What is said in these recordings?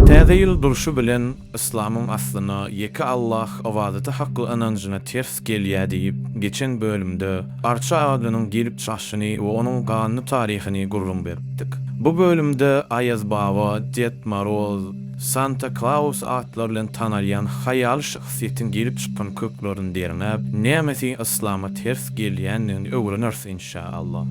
Täze ýyl durşy bilen yslamyň aslyna, ýeke Allah ybadaty hakly ynanjyna ters gelýär diýip, geçen bölümde arça agadynyň gelip çykyşyny we onuň ganly taryhyny gürrüň beripdik. Bu bölümde Aýaz baba, Ded Moroz, Santa Klaus atlary bilen tanalýan haýaly şahsyýetiň gelip çykan köklerini derňäp, nämesi yslama ters gelýändigini öwreneris inşa Allah.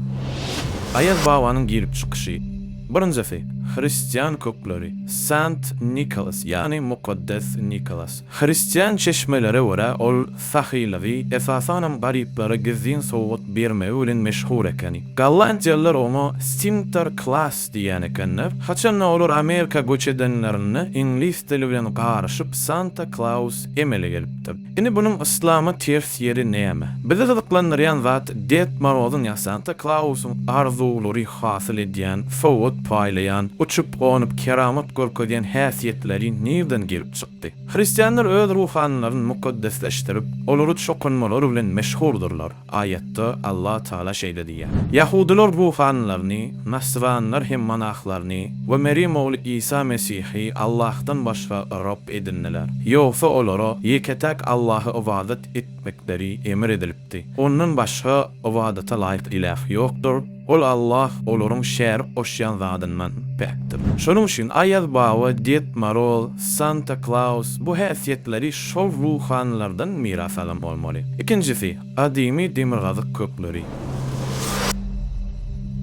Aýaz babanyň gelip çykyşy. Birinjisi, hristian kökleri, Saint Nicholas, ýagny Mukaddes Nikolas. Hristian çeşmelere görä, ol sahylygy, esasanam garyplara gizlin sowgat bermegi bilen meşhur ekeni. Gollandiýalylar oňa Sinter Klaas diýýän ekenler. Haçan-da olar Amerika göç edenlerinde, iňlis dili bilen garyşyp Santa Klaus emele gelipdir. Indi bunuň yslama ters ýeri näme? Bizi gyzyklandyrýan zat Ded Morozyň ýa Santa Klausyň arzuwlary hasyl edýän, sowgat paýlaýan, uçup-gonup keramat görkezýän häsiýetleri nirden gelip çykdy? Hristianlar öz ruhanylaryny mukaddesleşdirip, olary çokunmalary bilen meşhurdyrlar. Aýatda Allah Taala şeýle diýýär. Ýahudylar ruhanylaryny, nasranylar hem monahlaryny we Merýem ogly Isa Mesihi Allahdan başga Rab edindiler. Ýogsa olara ýeke-täk Allaha ybadat etmekleri emr edilipdi. Ondan başga ybadata laýyk ilah ýokdur. Ol Allah olaryň şärik goşýan zadyndan päkdir. Şonuň üçin Aýaz baba, Ded Moroz, Santa Klaus bu häsiýetleri şol ruhanylardan miras alan bolmaly. Ikinjisi, gadymy demirgazyk kökleri.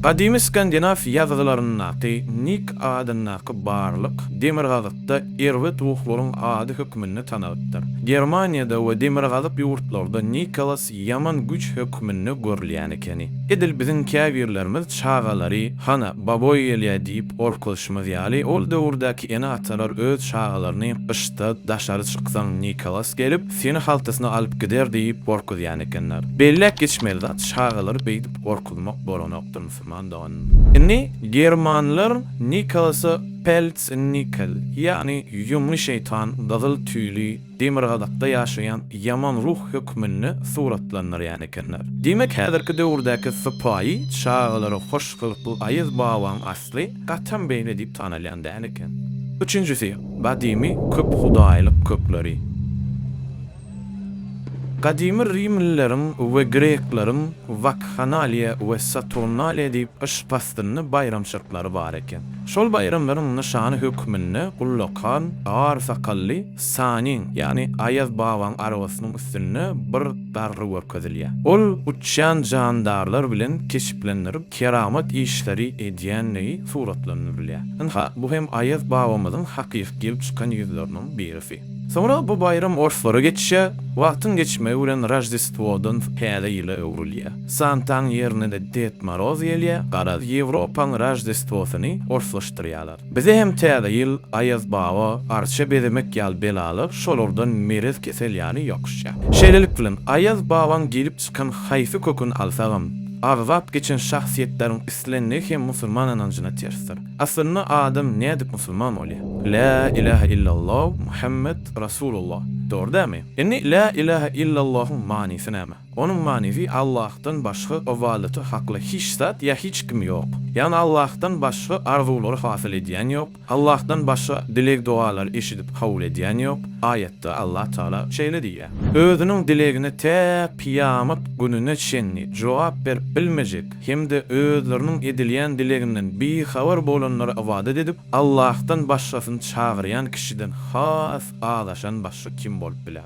Gadymy skandinaw ýazgylaryndaky Nik adyndaky barlyk demirgazykda erbet ruhlaryň ady hökmünde tanalypdyr. Germaniýada we demirgazyk ýurtlarda Nikolas, ýaman güç hökmünde görülýän ekeni. Edil biziň käbirlerimiz çagalary, Hana, baboý gelýär diýip gorkuzşymyz ýaly, ol döwürdäki ene-atalar öz çagalaryny gyşda daşary çyksaň Nikolas gelip, seni haltasyna alyp gider diýip gorkuzýan ekenler. Belläp geçmeli zat, çagalary beýdip gorkuzmak bolanokdyr, musulman doganym. Indi germanlar Nikolasa Pelznikal, ýagny Ýumly şeýtan, gyzyl tüýli, demirgazakda ýaşaýan ýaman ruh hökmünde suratlandyrýan ekenler. Diýmek, häzirki döwürdäki sypaýy çagalara hoş gylykly Aýaz babaň asly gatam beýle diýip tanalýan däl eken. Üçünjisi, gadymy köphudaýlyk kökleri. Gadymy rimlileriň we grekleriň Wakhanaliýa we Saturnaliýa diýip gyş paslyny baýramçylyklary bar eken. Şol baýramlaryň nyşany hökmünde ullakan, gar sakally, Sanyň, ýagny Aýaz babaň arabasynyň üstünde bir darga görkezilýär. Ol uçýan jandarlar bilen keşplendirip, keramat işleri edýändigi suratlandyrylýar. Ynha, bu hem Aýaz babamyzyň hakyky gelip çykan ýüzleriniň birisi. Soňra bu baýram orslara geçýär. Wagtyň geçmegi bilen Roždestwodan Täze ýyla öwrülýär. Santaň ýerine-de Ded Moroz gelýär. Garaz, Ýewropaň Roždestwosyny orslaşdyrýarlar. Bize hem täze ýyl Aýazbaba arça bezemek ýaly belalar şolardan merez kesel ýaly ýokuşýar. Şeýlelik bilen Aýaz babaň gelip çykan haýsy köküni alsagam, agzap geçen şahsyýetleriň islenligi hem musulman ynanjyna tersdir. Aslynda adam nädip musulman bolýar? Lä ilähe illallow Muhammet Rasulullah. Dogry dälmi? Indi Lä ilähe illallohuň manysy näme? Onuň manysy Allahdan başga ybadata hakly hiç zat ýa hiç kim ýok. Ýagny Allahdan başga arzuwlary hasyl edýän ýok, Allahdan başga dileg-dogalary eşidip kabul edýän ýok. Aýatda Allah Tagala şeýle diýýär. Özüniň dilegine tä kyýamat gününe çenli jogap berip bilmejek hem-de özleriniň edilýän dileginden bihabar bolanlara ybadat edip, Allahdan başgasyny çagyrýan kişiden has azaşan başga kim bolup biler?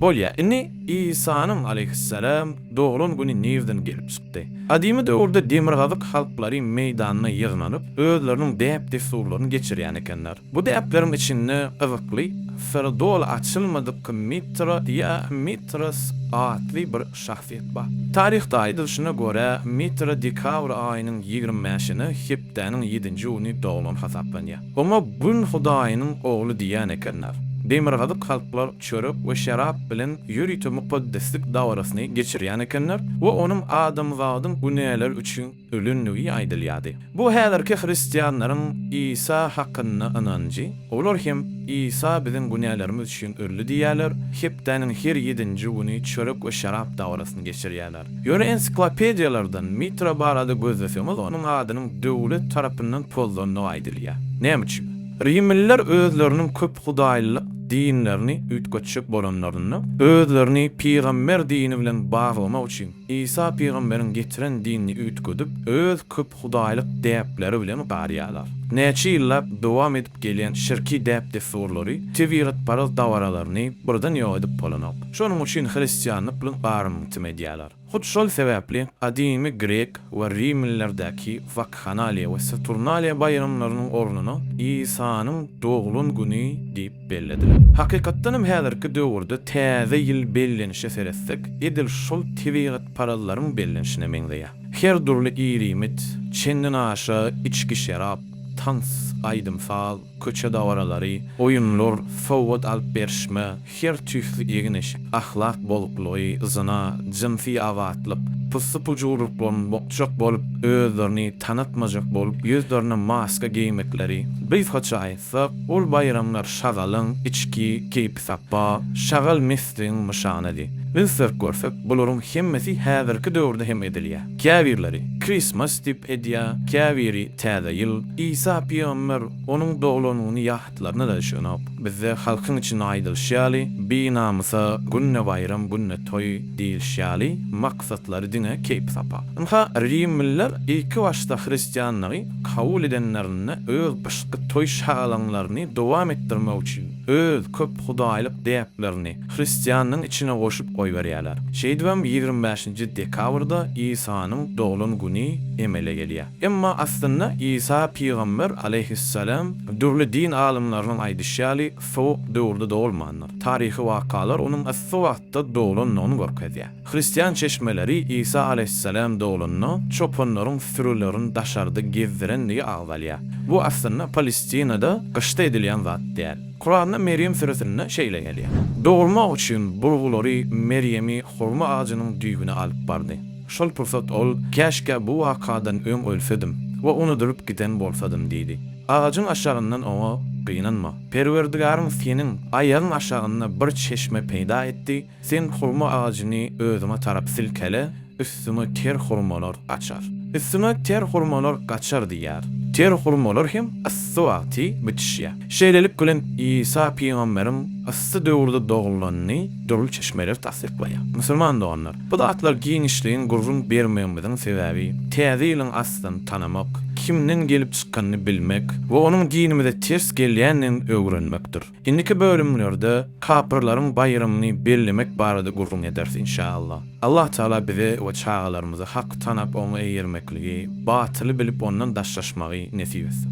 Bolýa, indi Isanyň, aleýhyssalam, doglan güni nirden gelip çykdy? Gadymy döwürde demirgazyk halklary meýdanyna ýygnanyp, özleriniň däp-dessurlaryny geçirýän ekenler. Bu däpleriň içinde gyzykly, syry doly açylmadyk Mitra ýa Mitras atly bir şahsyýet bar. Taryhda aýdylyşyna görä, Mitra dekabr aýynyň ýigrimi bäşine, hepdäniň ýedinji güni doglan hasaplanýar. Oňa Gün hudaýynyň ogly diýýän ekenler. Demirgazyk halklar çörek we şerap bilen ýörite mukaddeslik dabarasyny geçirýän ekenler we onuň adamzadyň günäleri üçin ölendigi aýdylýardy. Bu häzirki hristianlaryň Isa hakynda ynanjy, olar hem Isa biziň günälerimiz üçin öldi diýýärler, hepdäniň her ýedinji güni çörek we şerap dabarasyny geçirýärler. Ýöne ensiklopediýalardan Mitra barada gözleseňiz, onuň adynyň döwlet tarapyndan pozlandygy aýdylýar. Näme üçin? Rimliler özleriniň köp hudaýlylyk dinlerini üýtgetjek bolanlarynda, özlerini pygamber dini bilen baglamak üçin, Isa pygamberiň getiren dinini üýtgedip, öz köp hudaýlyk däpleri bilen garýarlar. Näçe ýyllap dowam edip gelýän şirki däp-dessurlary, tebigatparaz dabaralaryny birden ýok edip bolanok. Şonuň üçin hristianlyk bilen garyngytym edýärler. Hut şol sebäpli gadymy grek we rimlilerdäki Wakhanaliýa we Saturnaliýa baýramlarynyň ornuna Isanyň doglan güni diýip, bellediler. Hakykatdan hem häzirki döwürde täze ýyl bellenişe seretsek, edil şol tebigatparazlaryň bellenişine meňzeýär. Her dürli ir-iýmit, çenden aşa içgi-şerap, tans, aýdym-saz, köçe dabaralary, oýunlar, sowgat alyp berişme, her tüýsli egin-eşik, ahlak bozuklygy, zyna, jynsy azatlyk, pussy-pujurlyklaryň bokjak bolup, özlerini tanatmajak bolup, ýüzlerine maska geýmekleri, gysgaça, aýtsak, ol baýramlar şagalyň içki keýpisapba, şagal-mesligiň nyşanydy. Biz syrk görsek, bularyň hemmesi häzirki döwürde hem edilýär. Käbirleri Christmas diýip edýär, käbiri Täze ýyl. Isa pygamber onuň doglanyny ýahytlaryna daş ýonok. Bizde halkyň içinde aýdylyşy ýaly, Binamysa, günde baýram, günde toý diýilişi ýaly, maksatlary diňe keýp-sapa. Ynha, rimliler ilki başda hristianlygy kabul edenlerinde öz gyşky toý-şagalaňlaryny dowam etdirmek üçin öz köp hudaýlyk däplerini hristianlygyň içine goşup goýberýärler. Şeýdibem ýigrimi bäşinji dekabrda Isanyň doglan güni emele gelýär. Emma aslynda Isa pygamber aleýhissalam dürli din alymlarynyň aýdyşy ýaly sowuk döwürde dogulmandyr. Taryhy wakalar onuň yssy wagtda doglandygyny görkezýär. Hristian çeşmeleri Isa alaýhyssalam doglanda çopanlaryň sürülerini daşarda gezdirendigi agzalýar. Bu aslynda Palestinada gyşda edilýän zat däl. Kuranda Merýem süresinde şeýle gelýär. Dogurmak üçin burgulary Merýemi hurma agajynyň düýbüne alyp bardy. Şol pursat ol, Käşgä bu wakadan öň ölsedim we unudylyp giden bolsadym diýdi. Agajyň aşagyndan oňa, Gynanma. Perwerdigaryň seniň aýagyň aşagynda bir çeşme peýda etdi, Sen hurma agajyny özüňe tarap silkele, üstüňe ter hurmalar gaçar. Üstüňe ter hurmalar gaçar diýýär. Ter hurmalar hem yssy wagty bitişýär. Şeýlelik bilen, Isa pygamberiň yssy döwürde dogullanyny dürli çeşmeler tassyklaýar. Musulman doganlar, bu zatlar giňişleýin gürrüň bermegimiziň sebäbi, Täze ýylyň aslyny tanamak, kimden gelip çykanyny bilmek we onuň dinimize ters gelýändigini öwrenmekdir. Indiki bölümlerde kapyrlaryň baýramyny bellemek barada gürrüň ederis inşaallah. Allah Taala bize we çagalarymyza haky tanap oňa eýermekligi, batyly bilip ondan daşlaşmagy nesip etsin.